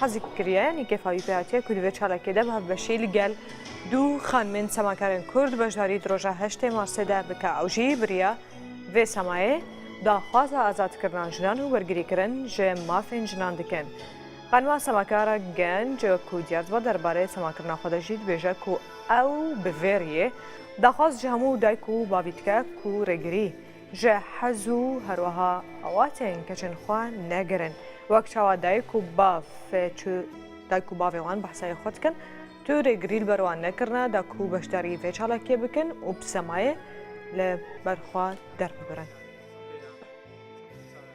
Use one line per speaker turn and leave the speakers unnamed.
Hezî kiriye yanî kêfa wî pê hatiye ku di vê çalakê de bi hevbeşî li gel du xanimên semakarên Kurd beşdarî di roja heştê Marsê de bike. Ew jî biriya vê semayê daxwaza azadkirina jinan û wergirîkirin ji mafên jinan dikin. Xanima semakar a genc ku diyar dibe derbarê semakirina xwe de jî dibêje ku ew bi vê riyê daxwaz ji hemû dayik û bavî dike ku rêgirî Ji hez û herweha awatên keçên xwe negirin. Wek çawa dayik û bav çi dayik û bavên wan behsayê xwe dikin, tu rêgirî li ber wan nekirine da ku beşdarî vê çalakiyê bikin û bi semayê li ber xwe derbibirin.